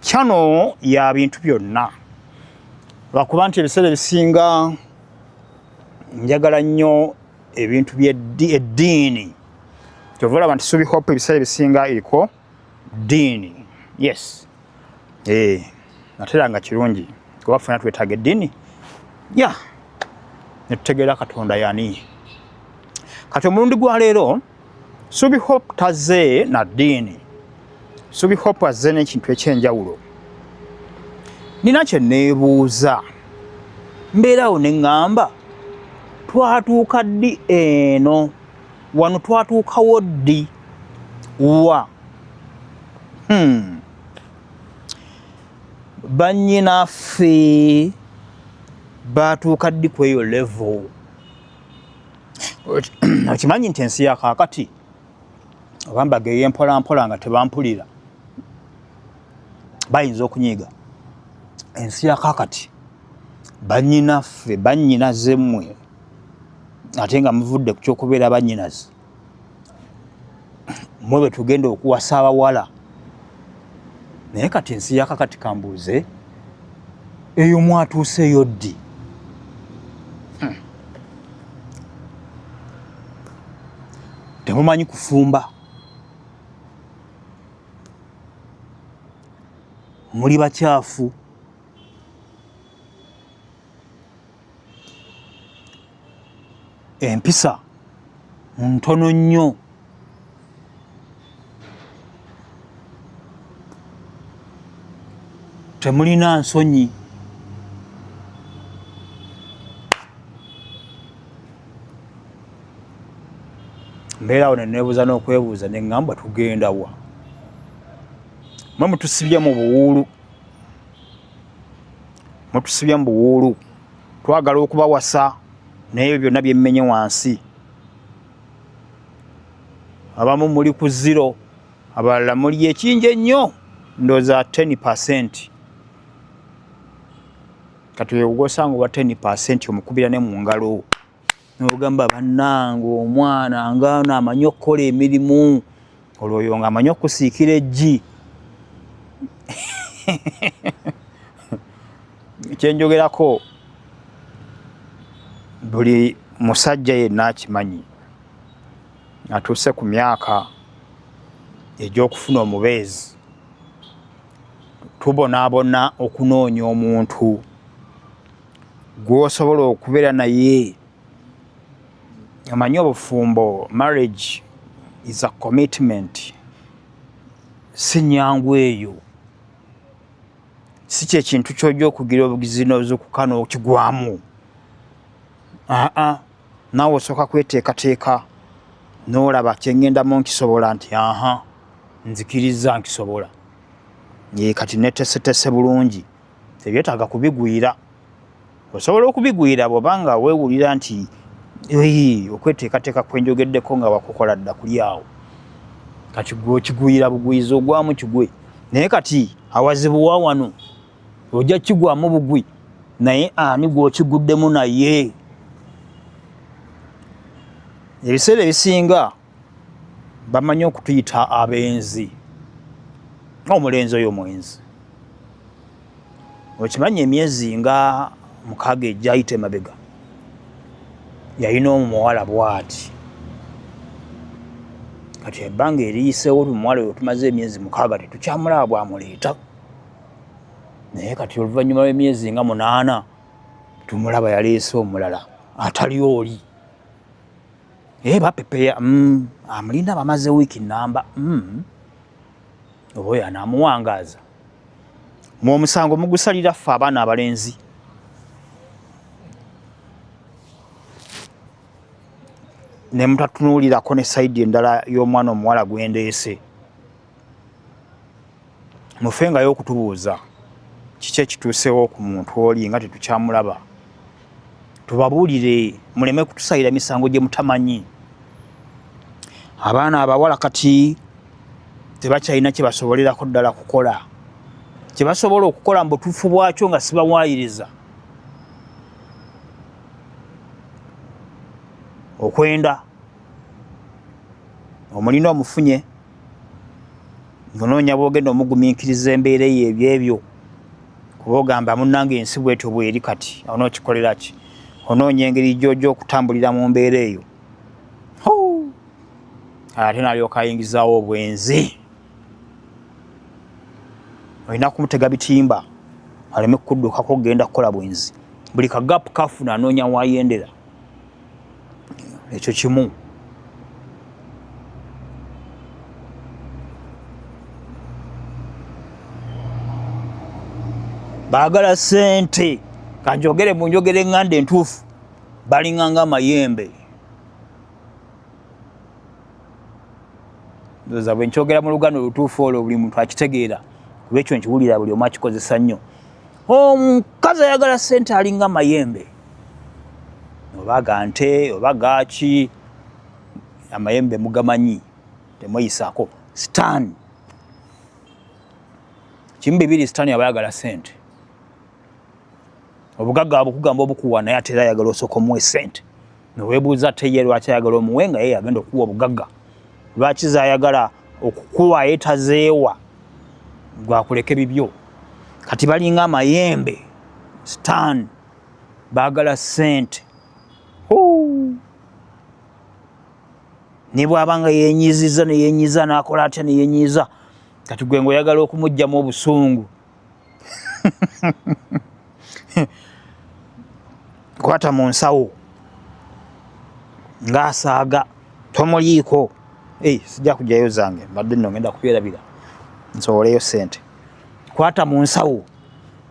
kyano ya bintu byonna lwakuba nti ebiseera ebisinga njagala nnyo ebintu byeddiini kyova olaba nti subi hope ebiseera ebisinga eriko ddiini yes eh, atera nga kirungi kuba fena twetaaga eddiini ya netutegeera katonda yani kati omulundi gwa leero Subi Hope taze na ddiini. Subi Hope azze n'ekintu eky'enjawulo. Nina kye neebuuza, mbeerawo ne ŋŋamba twatuuka ddi eno wano twatuukawo ddi wa hmm. bannyinaffe baatuuka ddi ku eyo level okimanyi nti ensi ya kakati obambaga eyempolampola nga tebampulira bayinza okunyiiga ensi ya kakati banyinaffe banyinaze mmwe ate nga muvudde ku kyokubeera banyinaze mwe bwe tugenda okuwasa abawala naye kati ensi yakakati kambuuze eyo mwatuuseeyo ddi hmm. temumanyi kufumba muli bakyafu empisa ntono nnyo temulina nsonyi mbeera awo nenebuuza n'okwebuuza neŋŋamba tugenda wa mwe mutusibye mu buwuulu mutusibye mu buwuulu twagala okubawasa naye ebyo byonna byemmenye wansi abamu muli ku ziro abalala muli ekingi ennyo ndooza 10 percent kati wewugosanga owa 10 percent omukubira ne mu ngalo nogamba bannange omwana ngaano amanyi okukola emirimu olwoyo nga amanyi okusiikira eggi kyenjogerako buli musajja yenna akimanyi atuuse ku myaka egy'okufuna omubeezi tubonaabona okunoonya omuntu gwosobola okubeera naye amanyi obufumbo marriage is a commitment si nyangu eyo si kyekintu kyoja okugira obugizi nozukuka nokigwamu aa naawe osooka kweteekateeka nolaba kyengendamu nkisobola nti aha nzikiriza nkisobola ye kati netesetese bulungi tebyetaaga kubigwira osobola okubigwira bwoba nga wewulira nti okweteekateeka kwenjogeddeko nga wakukola dda kuli awo kati gwe okigwira bugwiza ogwamu kigwe naye kati awazibuwa wano ojja kukigwamu bugwi naye ani gwokiguddemu naye ebiseera ebisinga bamanyi okutuyita abenzi omulenzi oyo mwenzi okimanyi emyezi nga mukaaga egyayita emabega yalina omuwala bwati kati ebbanga eriyiseewo omuwala oyo tumaze emyezi mukaaga tetukyamulaba bwamuleeta naye kati oluvannyuma lw'emyezi nga munaana tumulaba yaleese omulala atali oli Eh bapepeya mm, amulinda bamaze wiki namba mm. oba oyo anaamuwangaaza mu omusango mugusalira ffe abaana abalenzi ne mutatunuulirako ne sayidi endala y'omwana omuwala gwendeese mufengayo okutubuuza kiki ekituusewo ku muntu oli nga tetukyamulaba tubabuulire muleme kutusalira misango gye mutamanyi abaana abawala kati tebakyalina kye basobolerako ddala kukola kye basobola okukola mu butuufu bwakyo nga sibawaayiriza okwenda omulina omufunye onoonya bwogenda omugumiikiriza embeera eyo ebyebyo kuba ogamba munange ensi bwetyo bweri kati onookikolera ki onoonya engeri gyoja okutambulira mu mbeera eyo ate nalyoka ayingizaawo obwenzi olina kumutega bitimba aleme kukuddukako okugenda kukola bwenzi buli kagapu kafuna anoonya wayendera ekyo kimu baagala sente kanjogere mu njogera eŋŋanda entuufu balinganga amayembe ndoza bwe nkyogera mu luganda olutuufu olwo buli muntu akitegeera kuba ekyo nkiwulira buli omu akikozesa nnyo omukazi ayagala sente alinga mayembe oba ga nte oba gaaki amayembe mugamanyi temweyisako sitaani kimu bibiri sitaani aba ayagala sente obugagga abukugamba obukuwa naye ate era ayagala osooka omuwa esente newebuuza ate ye lwaki ayagala omuwe nga yeye agenda okuwa obugagga lwaki zayagala okukuwa ye tazeewa gwakuleke bibyo kati balinga amayembe sitaani baagala ssente ne bw'aba nga yenyiizizza ne yenyiiza n'akola atya ne yenyiiza kati gwe nga oyagala okumuggyamu obusungu kwata mu nsawo ng'asaaga tomuliiko ei sijja kugyayo zange mbadde nno ngenda kubyerabira nsowoleyo ssente kwata mu nsawo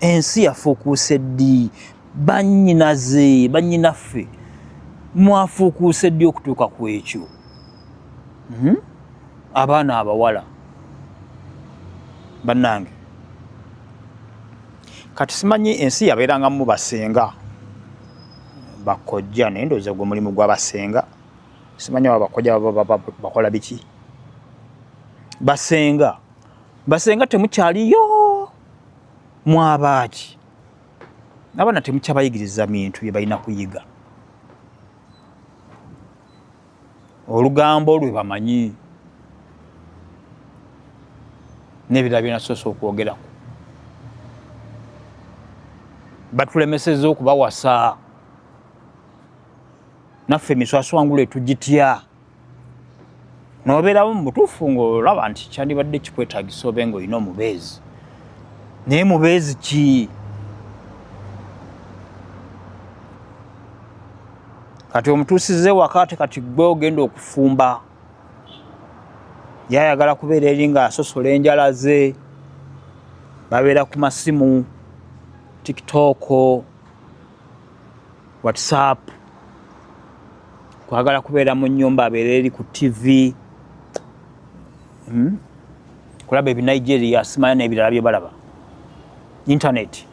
ensi yafuukuuse ddi bannyinaze bannyinaffe mwafuukuuse ddi okutuuka ku ekyo hmm? abaana abawala bannange kati simanyi ensi yabeerangamu basenga bakojja naye ndowooza gwe mulimu gwa basenga simanyi aba bakojja bakola biki basenga basenga temukyaliyo mwabaaki abaana temukyabayigiriza bintu bye balina kuyiga olugambo lwe bamanyi n'ebirala byenasoose okwogerako batulemeseza okubawasa naffe emiswaswangula etugitya nobeerawo mu butuufu ngaolaba nti kyandibadde kikwetagisa obe nga olina omubeezi naye mubeezi ki kati omutuusize wakaate kati gwe ogenda okufumba yayagala kubeera eri nga asosola enjala ze babeera ku masimu tiktooko whatsapp kwagala kubeera mu nyumba abeera eri ku tv hmm? kulaba ebinigeria simanya nebirala byebalaba internet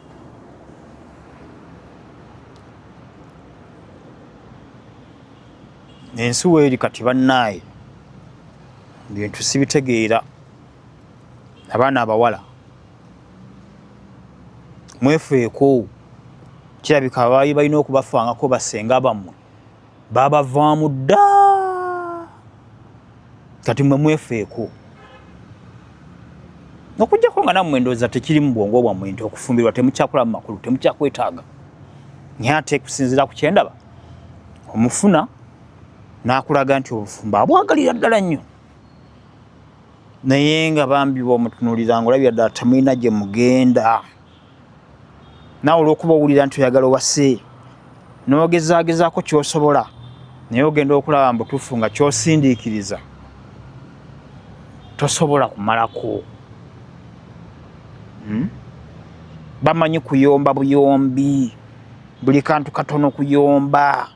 ensi weeri kati bannaaye bintu sibitegeera abaana abawala mwefeeko kirabika abaali balina okubafangako basenga bammwe babavaamu dda kati mwe mwefeeko okujjako nga nammwe endowooza tekiri mu bwongo bwammwe nti okufumbirwa temukyakola mu makulu temukyakwetaaga naye ate kusinziira ku kyendaba omufuna n'akulaga nti obufumbo abwagalira ddala nnyo naye nga bambi bwomutunulira nga olabira ddala temulina gye mugenda naawe olwokuba owulira nti oyagala owase n'ogezaagezaako kyosobola naye ogenda okulaba mbutuufu nga kyosindiikiriza tosobola kumalako hmm? bamanyi kuyomba buyombi buli kantu katono kuyomba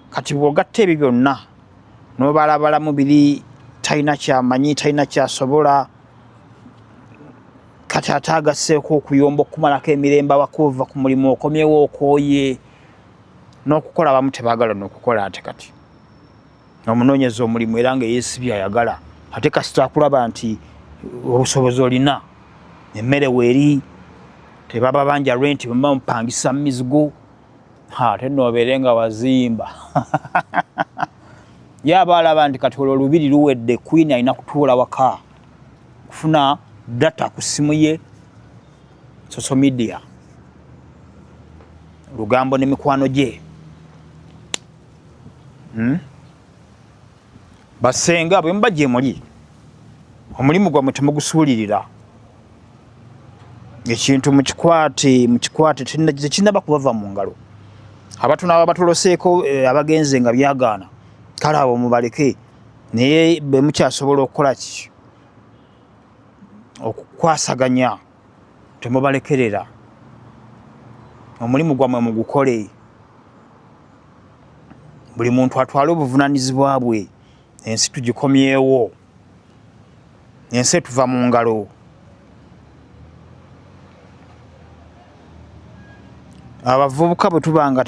kati bwogatta ebyo byonna nobalabalamu biri talina kyamanyi talina kyasobola kati ate agaseeko okuyomba okukumalako emirembe abakuva ku mulimu okomyewo okooye n'okukola abamu tebagala nokukola ate kati omunoonyeza omulimu era nga eyesibi ayagala ate kasita akulaba nti obusobozi olina emmere weeri tebaba banja renti bamupangisa mumizigo ate nobeere nga wazimba ye aba alaba nti kati olwo lubiri luwedde queen alina kutuula waka kufuna data ku ssimu ye social media lugambo ne mikwano gye hmm? basenga bwe muba gye muli omulimu gwamwe temugusuulirira ekintu mukikwate mukikwate tekinaba kubava mu ngalo abatu naba batuloseeko eh, abagenze nga byagaana kale abo mubaleke naye bwe mukyasobola okukola ki okukwasaganya temubalekerera omulimu gwamwe mugukole buli muntu atwale obuvunanyizibwa bwe ensi tugikomyewo ensi etuva mu ngalo abavubuka bwe tuba nga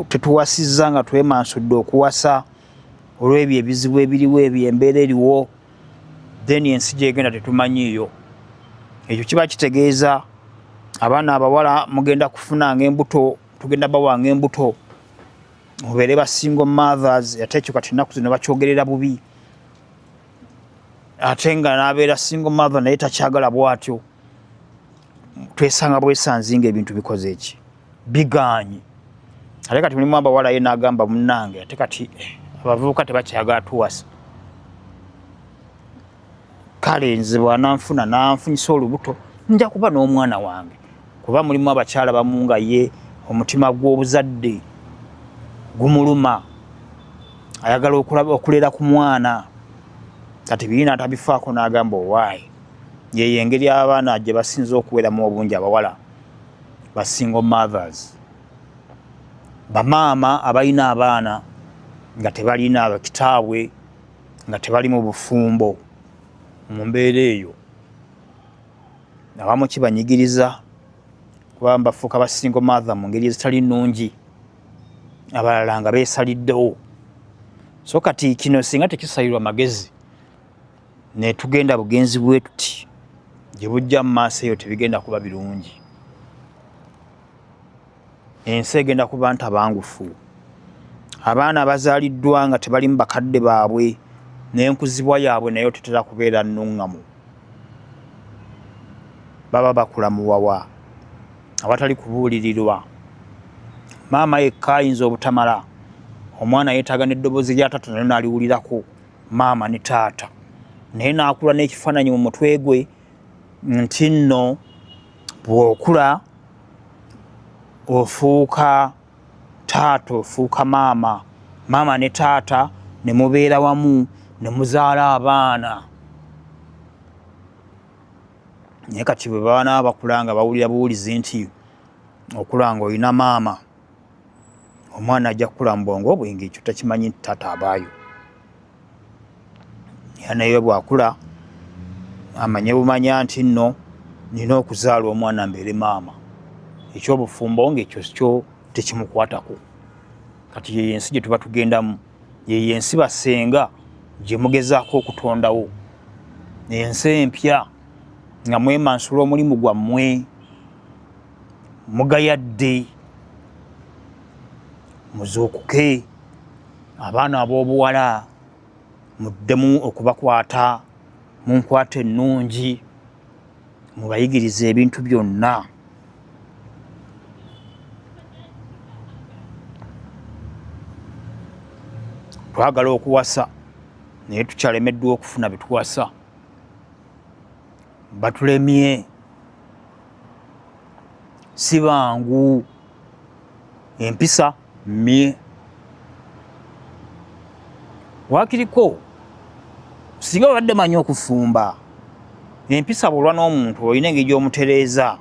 tetuwasizza nga twemansudde okuwasa olw'ebyo ebizibu ebiriwo ebyo embeera eriwo then ensi gyegenda tetumanyiiyo ekyo kiba kitegeeza abaana abawala mugenda kufunanga embuto tugenda bawanga embuto mubeere basingo mothers ate ekyo kati ennaku zino bakyogerera bubi ate nga nabeera single mother naye takyagala bwatyo twesanga bwesanzinga ebintu bikoze eki bigaanyi ate kati mulimu abawala ye nagamba munange ate kati eh, abavubuka tebakyagala tuwasa kale nze bwananfuna nanfunyisa olubuto nja kuba n'omwana wange kuba mulimu abakyala bamu nga ye omutima gw'obuzadde gumuluma ayagala okulaba okulera ku mwana kati biina atabifaako n'agamba owaayi yeyo engeri abaana gye basinza okuweramu obungi abawala ba single mothers bamaama abalina abaana nga tebalina kitaabwe nga tebali mu bufumbo mu mbeera eyo abamu kibanyigiriza kuba bafuuka ba single mother mu ngeri ezitali nnungi abalala nga beesaliddewo so kati kino singa tekisalirwa magezi netugenda bugenzi bwetuti gye bujja mu maaso eyo tebigenda kuba birungi ensi egenda ku bantu abangufu abaana abazaaliddwa nga tebalimu bakadde baabwe n'enkuzibwa yaabwe nayo tetera kubeera nnuŋŋamu baba bakula muwawa awatali kubuulirirwa maama yekka ayinza obutamala omwana yeetaaga n'eddoboozi lya taata nayo naaliwulirako maama ne taata naye naakula n'ekifaananyi mu mutwe gwe nti nno bw'okula ofuuka taata ofuuka maama maama ne taata ne mubeera wamu ne muzaala abaana naye kati bwe baana bakula nga bawulira buwulizi nti okula nga olina maama omwana ajja kukula mu bwongo obwenge ekyo takimanyi nti taata abaayo yanaye bwakula amanye bumanya nti nno nina okuzaala omwana mbeere maama ekyobufumbo nga ekyo kyo tekimukwatako kati yeyo ensi gye tuba tugendamu yeyo ensi basenga gye mugezaako okutondawo ensi empya nga mwemansula omulimu gwammwe mugayadde muzuukuke abaana ab'obuwala muddemu okubakwata mu nkwata ennungi mubayigiriza ebintu byonna twagala okuwasa naye tukyalemeddwa okufuna bituwasa batulemye si bangu empisa mye wakiriko singa obadde manyi okufumba empisa bwolwa n'omuntu olina engeri gy'omutereeza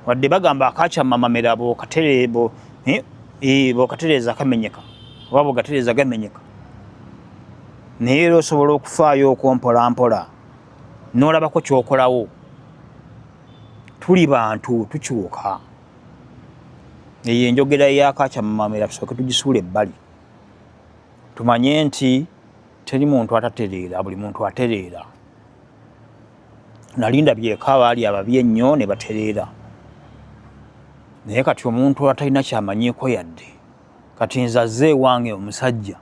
wadde bagamba akakyamamamira eh, eh, bokatereeza kamenyeka oba bogatereeza gamenyeka naye era osobola okufaayo okwompolampola n'olabako ky'okolawo tuli bantu tukyuka eyo enjogera eyakakyamamamira tusooke tugisuula ebbali tumanye nti teri muntu atatereera buli muntu atereera nalinda byeka abaali ababi ennyo ne batereera naye kati omuntu atalina kyamanyiiko yadde kati nzaze ewange omusajja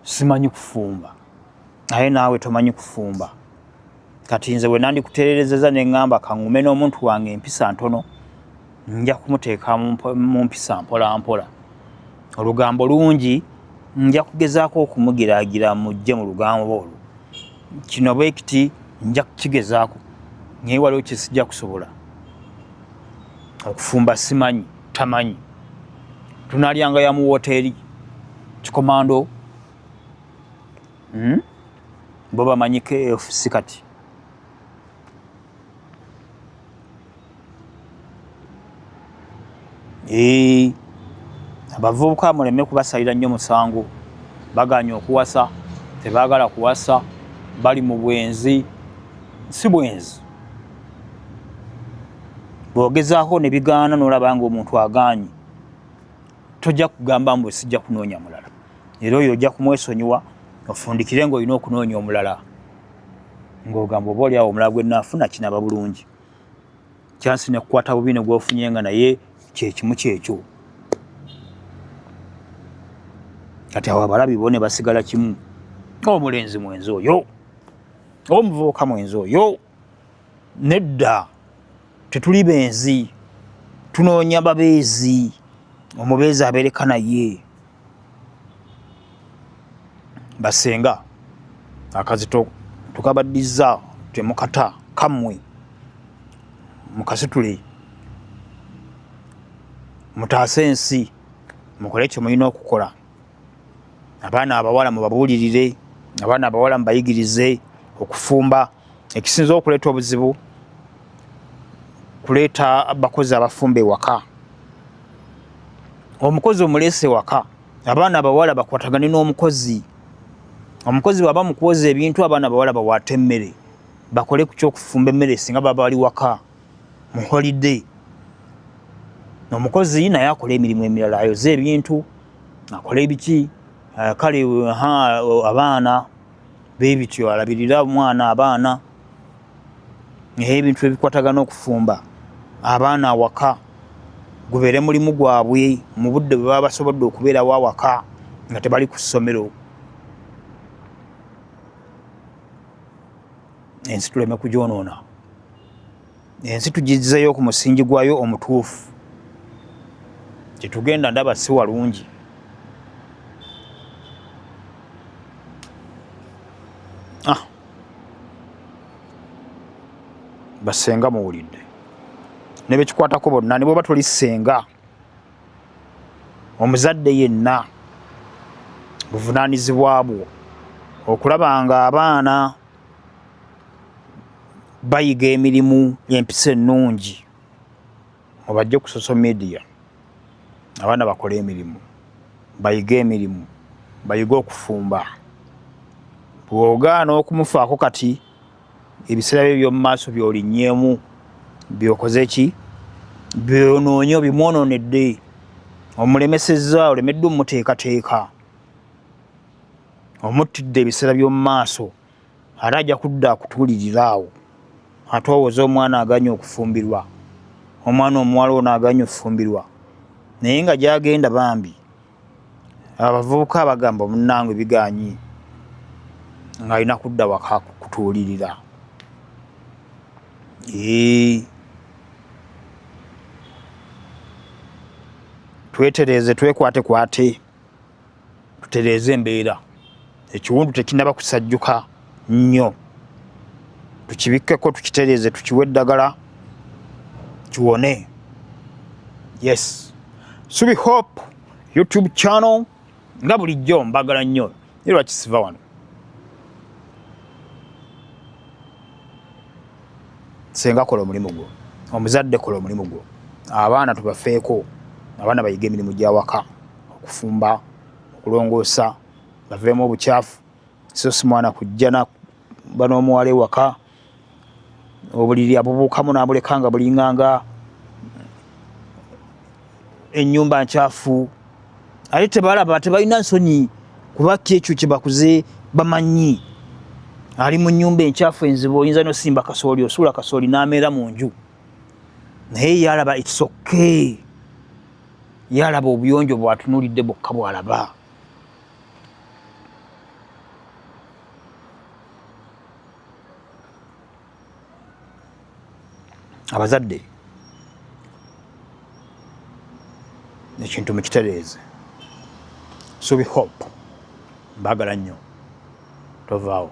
simanyi kufumba naye naawe tomanyi kufumba kati nze bwe nandikuteererezeza ne ŋŋamba kaŋume n'omuntu wange empisa ntono nja kumuteeka mu mpisa mpolampola olugambo lungi nja kugezaako okumugiraagira mujje mu lugambo olwo kino bwe kiti nja kukigezaako naye waliwo kyesijja kusobola okufumba simanyi tamanyi tunalyanga ya mu woteri kikomando hmm? bo bamanyi kfc kati eh, abavubuka muleme kubasalira nnyo musango baganye okuwasa tebagala kuwasa bali mu bwenzi si bwenzi bwogezaako ne bigaana n'olaba ng'omuntu agaanyi tojja kugamba mbu sijja kunoonya mulala era oyo ojja kumwesonyiwa ofundikire ng'olina okunoonya omulala ng'ogamba oba oli awo omulala gwe naafuna kinaba bulungi kyansi nekukwata bubi ne gwofunye nga naye kyekimu kyekyo kati awo abalabi bo ne basigala kimu omulenzi mwenzi oyo omuvubuka mwenzi oyo nedda tetuli benzi tunoonya babeezi omubeezi abeereka naye basenga akazito tukabaddiza temukata kamwe mukasitule mutaase ensi mukole kyemulina okukola abaana abawala mubabuulirire abaana abawala mubayigirize okufumba ekisinza okuleeta obuzibu kuleeta bakozi abafumba ewaka omukozi omuleese ewaka abaana abawala bakwatagane n'omukozi omukozi bwaba mukuwoza ebintu abaana abawala bawaate emmere bakole ku kyokufumba emmere singa baba bali waka mu holiday omukozi naye akola emirimu emirala ayoze ebintu akola ebiki eh, kale abaana bebityo alabirira omwana abaana naye ebintu ebikwatagana okufumba abaana awaka gubeere mulimu gwabwe mu budde bwe baba basobodde okubeerawo awaka nga tebali ku ssomero ensi tuleme kugyonoona ensi tugizzeeyo ku musingi gwayo omutuufu kyetugenda ndaba si walungi ah. basenga muwulidde nebekikwatako bonna nebweba toli senga omuzadde yenna buvunaanyizibwa bwo okulaba nga abaana bayiga emirimu empisa ennungi mubajje ku social media abaana bakole emirimu bayige emirimu bayige okufumba bwogaana okumufaako kati ebiseera bye by'omu maaso by'olinnyemu byokoze ki byonoonye obimwonoonedde omulemesezza olemeddwa omuteekateeka omuttidde ebiseera by'omu maaso ate ajja kudda akutuulirira awo ate owoza omwana aganye okufumbirwa omwana omuwala ono aganye okufumbirwa naye nga gyagenda bambi Abavubuka bagamba munange biganyi nga alina kudda waka kutuulirira ee twetereeze twekwatekwate tutereeze embeera. ekiwundu tekinaba kusajjuka nnyo tukibikkeko tukitereeze tukiwe eddagala kiwone yes subi hope youtube channel nga bulijjo mbagala nnyo ye lwaki siva wano senga kola omulimu gwo omuzadde kola omulimu gwo abaana tubafeeko abaana bayige emirimu gyawaka okufumba okulongoosa baveemu obukyafu so si mwana kujja nakuba n'omuwala ewaka obuliri abubuukamu n'abuleka nga bulinganga ennyumba nkyafu ate tebalaba tebalina nsonyi kuba ki ekyo kye bakuze bamanyi ali mu nnyumba enkyafu enzibu oyinza nosimba kasooli osuula kasooli n'ameera mu nju naye yalaba it's okay yalaba obuyonjo bwatunulidde bwokka bwalaba abazadde ekintu mukitereeze subi hope mbagala nnyo tovaawo